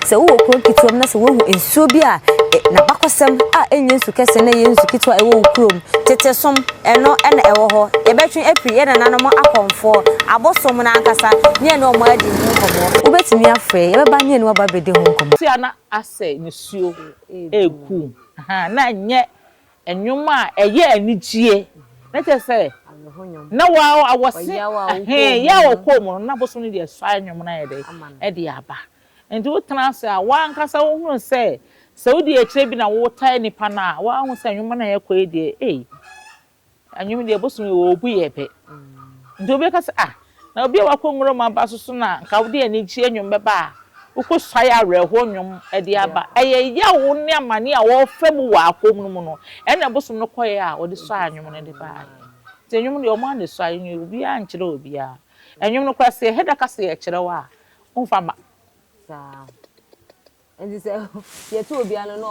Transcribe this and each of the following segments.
Sɛ wowɔ kurow ketewa mu na sɛ woahu nsuo bi a n'abakɔsɛm a ɛnyɛ nsu kɛseɛ na ɛyɛ nsu ketewa a ɛwɔ wo kurom, tete som, ɛno na ɛwɔ hɔ. Yɛbɛtwe afiri yɛn nananom akɔmfoɔ, abosom no ankasa, ne yɛne wɔn adi ho nkɔmmɔ. Wobɛtumi afrɛ yɛbɛba ne yɛne wo aba abɛdi ho nkɔmmɔ. Tia na asɛ nisuo reku na ɛnyɛ nnwom a ɛyɛ anigyeɛ na kyerɛ sɛ na wɔse yaw a ɔkɔɔ mu no na abosom no de asuae nnwom no ayɛ dɛn de aba Enti wotena ase a, w'ankasa wohunu sɛ, sɛ wodi akyire bi na wotaa nipa no a, woahu sɛ nnwom no a ɛkɔ yi deɛ, ei, nnwom deɛ bosom yi wɔbu yɛ pɛ. Nti obi bɛka sɛ, ah, na obi a wakɔ nwuram aba so so na nka wode anigyeɛ nnwom bɛba a, wokɔsuae awerɛhoɔ nnwom de aba. Ɛyɛ yaw ne amane a wɔfa mu wɔ apɔm no mu no, ɛnna bosom no kɔeɛ a wɔde suaa nnwom no de baeɛ. Nti nnwom deɛ wɔn ara na ɛsuae, obiara nkyerɛ obiara. Nnwom no koraa, sɛ yɛheda ka sɛ yɛkyerɛw a, Womfa mma. Saa. Nti sɛ yɛto obi ano na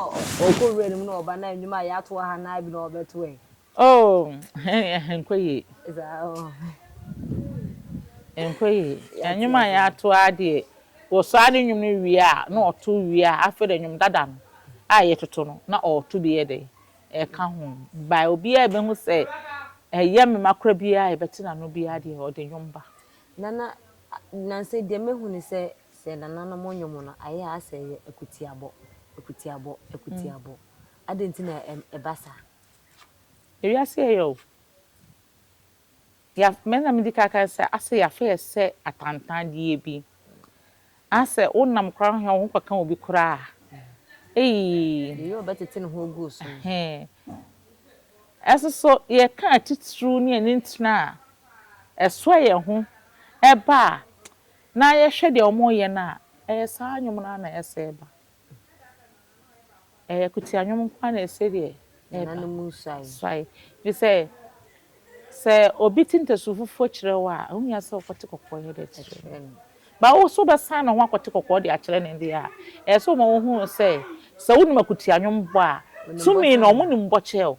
ɔkɔ wura no mu na ɔba na nnwom a yɛato aha no ara bi na ɔbɛto ɛ. Oh, ɛnkɔ yie. Saa o. Ɛnkɔ yie. Nnwom a yɛato ara deɛ, wɔsaa ne nnwom no wie a, na ɔto wie a, afei deɛ nnwom dada no a yɛtoto no na ɔreto bi yɛ dɛn? Ɛreka ho. By obiara bɛhu sɛ ɛyɛ mema koraa biara a yɛbɛte n'ano biara deɛ, ɔde nnwom ba. Nana, Nansa yi deɛ mahu ne sɛ, sɛ nananom nnwom no, ayɛ ara sɛ ɛyɛ akutiabɔ, akutiabɔ, akutiabɔ. Adɛn nti na ɛba saa? Ewiase yɛ yɛ o. Yɛ, me na medi kan aka sɛ, asɛ yɛafɛ yɛ sɛ atantandeɛ bi. Anaasɛ wonam koraa no hwɛ a wo ho kɔka obi koraa a, eii. Deɛ ɔyɛ ɔbɛtete ne ho agu wo so no. Ɛsoso yɛka atitiriw ne anintini a ɛsoa yɛn ho ba a, na yɛhwɛ deɛ wɔreyɛ no a, ɛyɛ saa nnwom no ara na ɛsɛe ba. Ɛyɛ akutia nnwom nko ara na ɛsɛ deɛ ɛba. Nananom nsuae. Nsuae. Ɛfiri sɛ, sɛ obi te ntasu fufuo kyerɛ wo a, ɛho hia sɛ wokɔte kɔkɔɔ yɛ dɛ kyerɛ no. Ba wo so wobɛsan ne ho akɔte kɔkɔɔ de akyerɛ no deɛ a, ɛyɛ sɛ woma ɔhunu sɛ, sɛ wonim akutia nnwom bɔ a, tumi no wɔnim bɔ kyerɛ wo.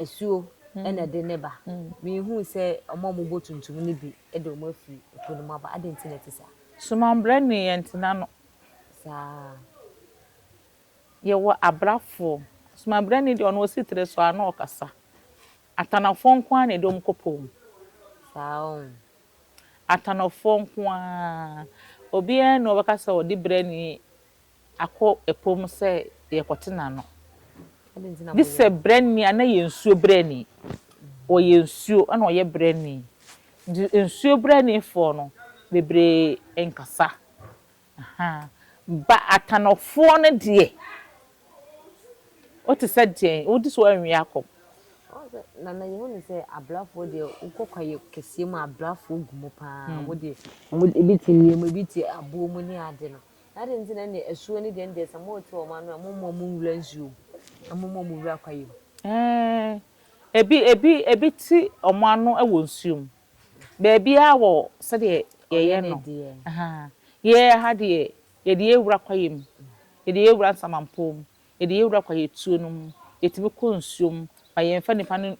asuo na ɛde ne ba. Mehuu sɛ wɔn a wɔbɔ tuntum no bi de wɔn afiri po no mu aba. Adɛn nti na ɛte saa? Soma mbrɛ ne yɛ ntena no. Saa. Yɛwɔ abrafoɔ. Soma mbrɛ ne deɛ ɔno ɔsi tiri so a na ɔkasa. Atanafoɔ nko ara na ɛde wɔn kɔ po mu. Saa o. Atanafoɔ nko ara. Obiara nni hɔ a ɔbɛka sɛ ɔde brɛ ne Akɔ ɛpo mu sɛ yɛrekɔtena ano. Gye sɛ brɛni a na yɛ nsuo brɛni. Ɔyɛ nsuo na ɔyɛ brɛni. Nti nsuo brɛnifoɔ no bebree nkasa. Ba Atanofoɔ no deɛ, wote sɛ deɛn? Wode so anwie akɔ? Nana yɛhu no sɛ abrafoɔ deɛ wokɔ kwaeɛ kɛseɛ mu a abrafoɔ gu mu paa. Wɔn deɛ wɔn ebi te nneɛma bi te aboɔ mu ne ade no. Na adɛn nti na ɛnneɛ asuo ne deɛn deɛ sɛ morete wɔn ano a, mommɔ mo nwura nsuo mu, na mommɔ mo wura kwaeɛ mu? Ɛɛ, ebi, ebi, ebi te wɔn ano wɔ nsuo mu. Baabiara wɔ sɛdeɛ yɛyɛ no. Ahaa, yɛn ha deɛ, yɛde yɛn wura kwaeɛ mu, yɛde yɛn wura nsamanpɔn mu, yɛde yɛn wura kwaeɛtuo no mu, yɛtumi kɔ nsuo mu, ma yɛmfa nnipa no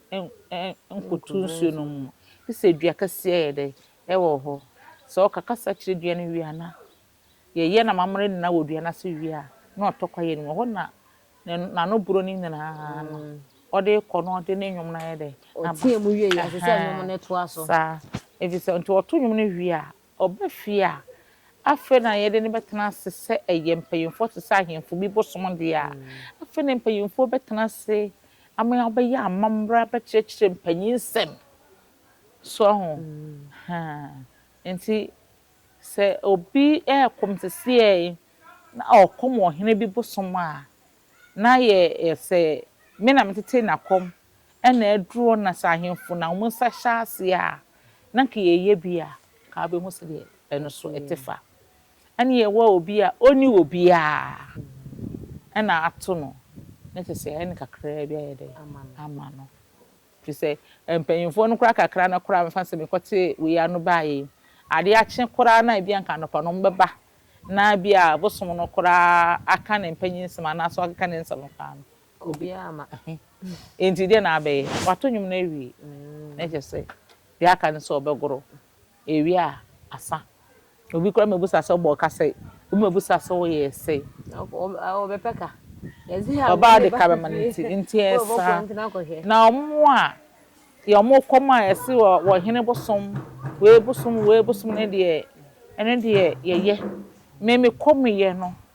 nkɔtu nsuo no mu. Te sɛ dua kɛseɛ yɛ dɛ, ɛwɔ hɔ. Sɛ ɔka kasa kyerɛ dua no wie a, na. Yɛyɛ n'amammerɛ nyinaa wɔ dua no ase wie a, na ɔtɔ kwaeɛ no mu. Ɛhɔ na n'ano boro no nyinaa no, ɔde kɔ na ɔde ne nnwom no ayɛ dɛ. Ɔteɛ mu wie a, ɛsɛ sɛ nnwom no toa so. Saa. Ɛfiri sɛ, nti ɔto nnwom no wie a, ɔba fie a, afei na yɛde no bɛtena ase sɛ ɛyɛ mpanimfoɔ te sɛ ahemfo bi bosom deɛ a. Afei na mpanimfoɔ bɛtena ase ama wɔabɛyɛ amammerɛ abɛkyerɛkyerɛ mpanin nsɛm. So ahu? Nti Sɛ obi reko te sɛ na ɔkɔm wɔ hene bi bosom a, na yɛ sɛ me na metetee n'akɔm na aduro na sɛ ahemfo na wɔn nsa hyɛ aseɛ a, na nka yɛyɛ bi a, nka wobɛhu sɛdeɛ ɛno nso ɛte fa. Ɛne yɛwɔ obi a ɔnni obiara na ato no, na kyɛ sɛ ɛne kakraa bi ayɛ dɛ ama no. Ɛfiri sɛ mpanimfoɔ no koraa kakra no koraa mefa no sɛ mekɔte wei ano baeɛ yi, adeɛ akye koraa no a ebia anka anɔpa no wɔbɛba na ebia bosom no koraa aka ne mpanyin nsɛm anaasɛ wakeka ne nsɛm no koraa no, obiara amma. Ɛhe? Enti deɛn na abɛyɛ? Wato nnwom no awie, na kyerɛ sɛ deɛ aka no sɛ wɔbɛgoro. Ewie a, asa. Obi koraa ma ebusa sɛ ɔbɔɔ ka sɛ. Obi ma ebusa sɛ ɔyɛɛ sɛ. Ɔbɛpɛ ka. Ɔbaa de ka bɛma no nti, nti ɛsa. Na wɔn a yɛ wɔn kɔm a yɛse wɔ wɔ hene bosom, wei bosom, wei bosom no deɛ, ɛno deɛ yɛyɛ. Me me kɔm yɛ no.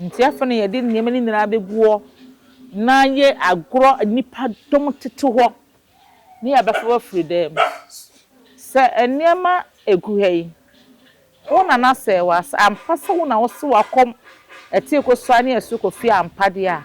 Nti afei na yɛde nneɛma no nyinaa bɛgu hɔ na ayɛ agorɔ a nnipa dɔm tete hɔ na yɛabɛfa wo afiri dan mu. Sɛ nneɛma gu ha yi, wo na no asɛe wo a, sɛ ampa sɛ wo na wose w'akɔm ɛte kɔ so ara ne ɛso kɔfie ampa deɛ a,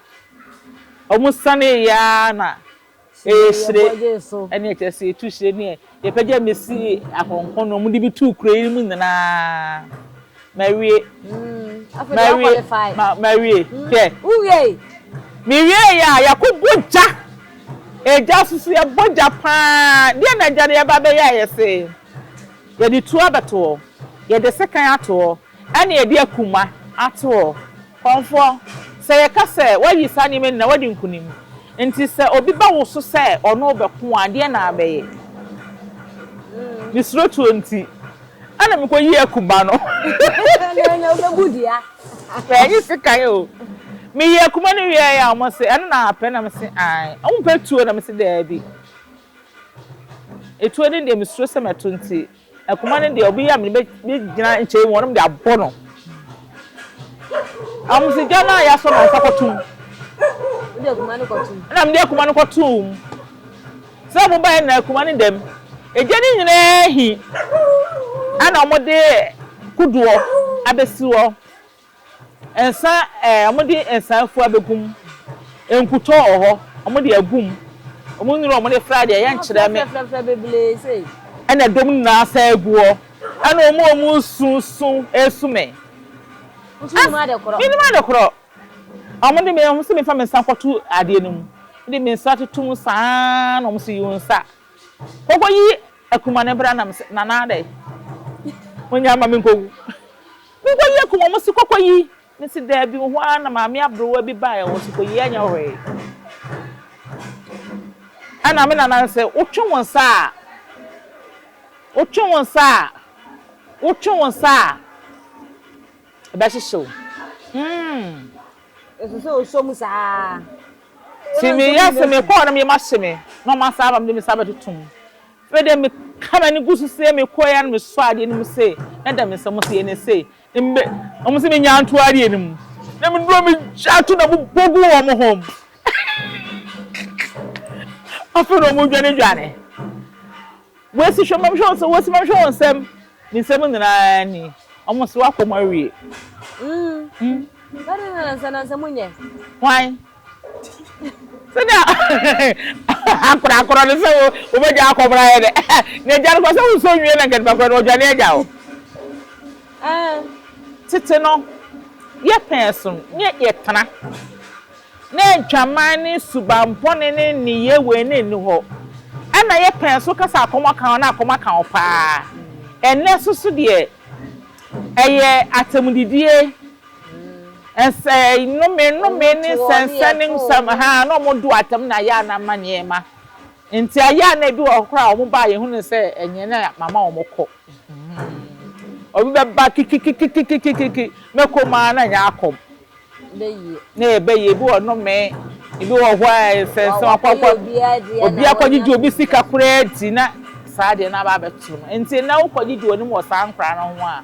Ɔmo sanee yɛ ara na ɛyɛ hyire ɛne ɛkyerɛ sɛ yɛtu hyire ne yɛpagya me si akɔnkɔn na ɔmo de me tuu kuro yi mu nyinaa mawie mawie ma mawie hwɛ mewieeɛ a yɛakɔbɔ gya ɛgya soso yɛbɔ gya paa deɛ na agya no yɛba bɛyɛ a yɛse yɛde tuo abɛtoɔ yɛde sekan atoɔ Ɛne yɛde akuma ato hɔ. Kɔmfoɔ, sɛ yɛka sɛ, Woayi saa nneɛma nyinaa, woadi nkonim. Enti sɛ obi ba wo so sɛ ɔne wo bɛko a, deɛn na wobɛyɛ? Mesuro tuo nti, ɛna mekɔyii akuma no. Ɛnyɛ sekan o. Meyii akuma no wieeɛ a, wɔse, Ɛno na wopɛ? Na mese, Aane. Wompɛ tuo? Na mese, Daabi. Etuo no deɛ, mesuro sɛ mɛto nti, Ɛkoma no deɛ obi yɛ me no bɛgyina nkyɛn mu wɔnom de abɔ no amosigya no a yɛasɔ no nsa kɔtom ɛna mede akoma no kɔtom sɛ mobaɛ na akoma no dɛm ɛgya no nyinaa hi ɛna wɔde kodoɔ abɛsi hɔ Nsa eh, wɔde nsa fua bɛgu mu Nkutoo wɔ hɔ, wɔde agu mu Wɔn nnuro a wɔde fra deɛ yɛnkyerɛ me Afrafrafrafra bebree sei. Ɛna ɛdɔm nyinaa san agu hɔ Ɛna wɔn a wɔresu su resu me Nso wonim As, ade korɔ. menim ade korɔ Wɔde me, wɔse memfa me nsa nkɔto adeɛ no mu Mede me nsa toto mu saa ara na wɔse yi wo nsa Kɔkɔyi akuma no bra na mese, Nana dɛn? Monyɛ mma menkɔwu Nkɔ yie ko wɔn si kɔkɔ yi me se daabi wo hɔ ara na maame abrewa bi baeɛ wɔ se kɔ yi ɛnyɛ hwee ɛna me nana no se wotwe wo nsa a wotwe wo nsa a wotwe wo nsa a ɛbɛhyehyɛ wo mm. Ɛsɛ sɛ ɔsɔ mu saa. Ti meyɛ se mekɔɔ no meyɛ ma hye me na ɔma saa ba mede me sa bɛtoto mu Afei deɛ meka m'ani gu so sei, mekɔeɛ ara na mesɔɔ adeɛ no mu sei, na da me nsa mu sei, na sei, mbe, wɔn se menyaa nto adeɛ no mu, na meduru hɔ megyaa to na mebɔ guu wɔn ho. Afei na wɔn dwane dwane. Wɔsi hwɛ mamhwɛ wɔn nsɛm, wɔsi mamhwɛ wɔn nsɛm, me nsɛm nyinaa ni. Wɔn se wakɔ wɔn awie. Mm. Mm. Sɛ de na nansa nansa mu nyɛ. Hwan? Sɛnea akorakorɔ no sɛ wo wobɛgya akɔmoro ayɛ dɛ na agya no kɔ sɛ wosɔ nwie na nkɛtepakora no ɔdwane agya wo. Tete no, yɛpɛɛ som ne yɛtena. Na adwaman ne subammɔne ne nneyɛɛ wei na ɛnni hɔ. Ɛnna yɛpɛɛ so ka sɛ akɔm aka wo na akɔm aka wo paa. Ɛnnɛ nso so deɛ, ɛyɛ atɛmdidie. Nsɛe, nnome, nnome ne nsɛnsɛnnennen nsɛm a na wɔdu atɛm na ɛyɛ a na mma nneɛma mma. Enti ɛyɛ a na ebi wɔ hɔ koraa a wɔba a yehu no sɛ ɛnyɛ na mama wɔkɔ. Obi bɛba kikikikikikikiki, mɛkɔ mu ara na ɛnyɛ akɔm. Na ɛbɛyɛ, ebi wɔ nnome, ebi wɔ hɔ a nsɛnsɛn, wakɔkɔ, obi akɔgyegye obi sika koraa di na saa deɛ na aba abɛto no. Enti nnɛ wokɔgyegye w'anim wɔ saa nkwadaa no ho a,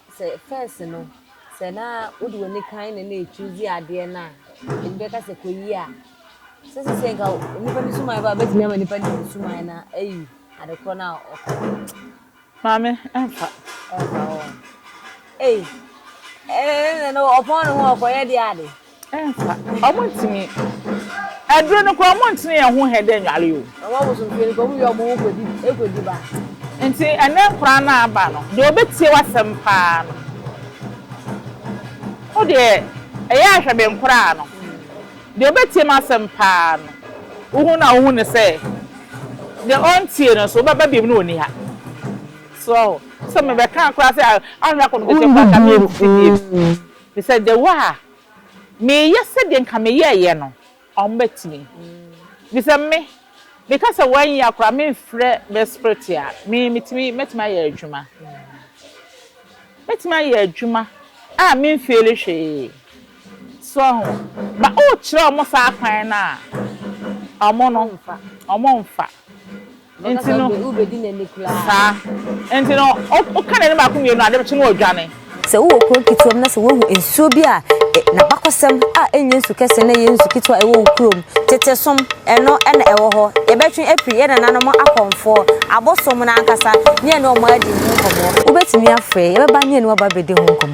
sɛ first no sɛ na wode w'ani kan na na ɛchuuse adeɛ no a ɛbi bɛka sɛ kɔyi a sɛ sesei nka nnipa no suman ba a bɛtumi ama nnipa no hu suman no ayi ade korɔ no a ɔkɔ maame ɛmfa ɛmfa hɔ ei ɛɛ na ɔpɔn ne ho ɔkɔyɛ deɛ ade Ɛmfa. Ɔmo ntumi. Aduro no koraa ɔmo ntene yɛn ho hɛ dɛ nware o. Ɔmo abosom fie no koraa ɔmo wie a ɔmo ho kɔ di ɛkɔ di ba. Nti ɛnɛ nkwadaa no aba no, deɛ ɔbɛtie w'asɛm paa no, wo deɛ ɛyɛ a hwɛ me nkwadaa no, deɛ ɔbɛtie m'asɛm paa no, wo hu no a wo hu no sɛ, deɛ ɔntie no nso wo bɛba biom na ɔnni ha. So ɔho? Sɛ me bɛka koraa sɛ ahwɛ akɔ no ketewa koraa nka me nsi biom. Mr Dawuah a, meyɛ sɛdeɛ nka meyɛɛyɛ no ɔmo bɛtumi. Mr Me, meka sɛ wɔanyia koraa memfrɛ Miss Pretty a, me metumi, mɛtumi ayɛ adwuma. Mɛtumi ayɛ adwuma a menfeeli hwee. So ahu? But wokyerɛ ɔmo saa kwan no a, ɔmo no, ɔmo mfa. Enti no, saa. Enti no, woka n'anim baako mmienu a, adekye no ɔdwane. Sɛ wowɔ kurow ketewa mu na sɛ woahu nsuo bi a n'abakɔsɛm a ɛnyɛ nsu kɛse na ɛyɛ nsu ketewa a ɛwɔ wo kurom, tete som, ɛno na ɛwɔ hɔ. Yɛbɛtwe afiri yɛn nananom akɔmfoɔ, abosom no ankasa, ne yɛne wɔn adi ho nkɔmmɔ. Wobɛtumi afrɛ yɛn, yɛbɛba ne yɛne wo aba abɛdi ho nkɔmmɔ.